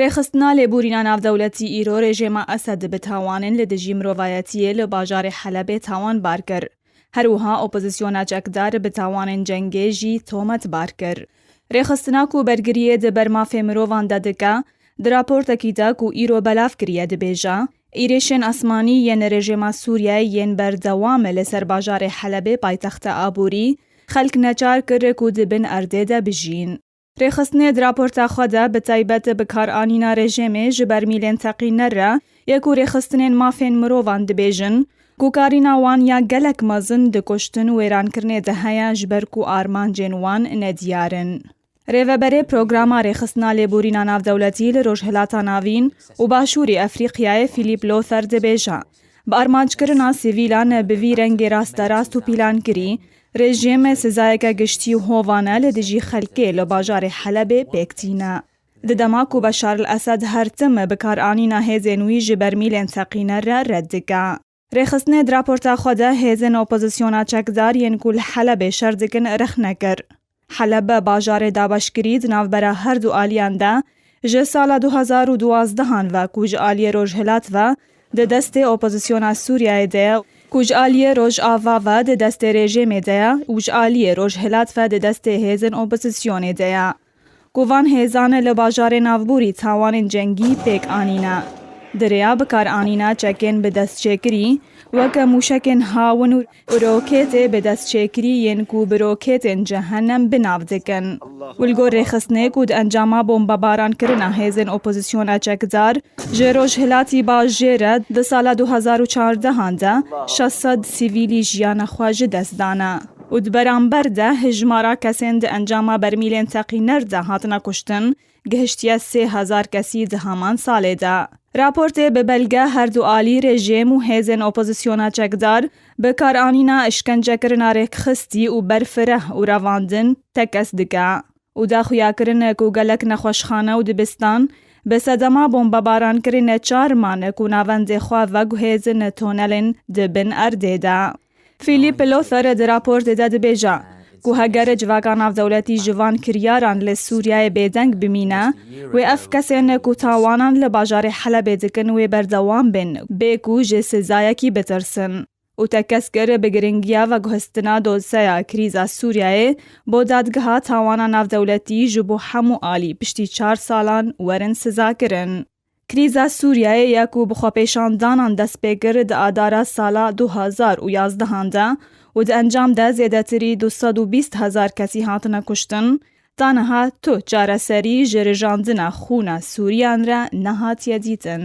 Rêxistina lêborîna navdewletî îro rejêma Esed bi tawanên li dijî mirovayetiyê li bajarê Helebê tawan bar kir. Her wiha opozîsyona çekdar bi tawanên cengê jî tomet bar kir. Rêxistina ku bergiriyê di ber mafê mirovan de dike, di raportekî de ku îro belav kiriye dibêje, Îrêşên asmanî yên rejêma Sûriyeyê yên berdewam li ser bajarê Helebê paytexta aborî, xelk neçar kir ku di bin erdê de bijîn. Rêxistinê di raporta xwe de bi taybet bikaranîna rejêmê ji bermîlên teqîner re yê ku rêxistinên mafên mirovan dibêjin ku karîna wan ya gelek mezin di kuştin wêrankirinê de heye ji ber ku armancên wan ne diyar in. Rêveberê Programa Rêxistina Lêborîna Navdewletî li Rojhilata Navîn û Başûrê Efrîqyayê Philippe Lother dibêje, Bi armancekirina sivîlan bi vî rengê rasterast û pîlankirî Rejîm sezayeke giştî û hovan e li dijî xelkê li bajarê Helebê pêk tîne. Di dema ku Beşar el Esed her tim bikaranîna hêzên wî ji bermîlên teqîne re red dike. Rêxistinê di raporta xwe de hêzên opozisyona çekdar yên ku li Helebê şer dikin rexne kir. Heleb, bajarê dabeşkirî di navbera her du aliyan de ji sala du hezar û duwazdeh an ve ku ji aliyê rojhilat ve di destê opozisyona Sûriyeyê de ye ku ji aliyê rojava ve di destê rejêmê de ye û ji aliyê rojhilat ve di destê hêzên opozisyonê de ye Ku van hêzan li bajarê navbûrî tawanên cengî pêk anîne. Di rêya bikaranîna çekên bi destçêkirî, weke mûşekên hawin û rokêtê bi destçêkirî yên ku bi rokêtên cehennem bi nav dikin û li gor rêxistinê ku di encama bombebarankirina hêzên opozisyona çekdar ji Rojhilatî Bajê re di sala du hezar û çardehan de şeş sed sivîlî jiyana xwe ji dest dane. û di beramber de hejmara kesên di encama bermîlên teqîner de hatine kuştin gihiştiye sê hezar kesî di heman salê de. Raportê bi belge herdu alî rejîm û hêzên opozisyona çekdar bi karanîna îşkencekirina rêkxistî û berfireh û revandin tekez dike û da xuyakirin ku gelek nexweşxane û dibistan bi sedema bombebarankirî neçar man ku navendê xwe veguhêzin tunelên di bin erdê de. Philippe Lothar di raportê de dibêje ku heger civaka navdewletî ji van kiryaran li Sûriyeyê bêdeng bimîne, wê ev kesên ku tawanan li bajarê Helebê dikin wê berdewam bên bê ku ji sizayekî bitirsin û te kes kir bi giringiya veguhestina dosyeya krîza Sûriyeyê bo Dadgeha Tawana Navdewletî ji bo hemû alî piştî çar salan werin sizakirin. Krîza Sûriyeyê ya ku bi xwepêşandanan dest pê kir di adara sala du hezar û yazdehan de û di encam de zêdetirî du sed û bîst hezar kesî hatine kuştin, ta niha tu çareserî ji rijandina xûna Sûriyan re nehatiye dîtin.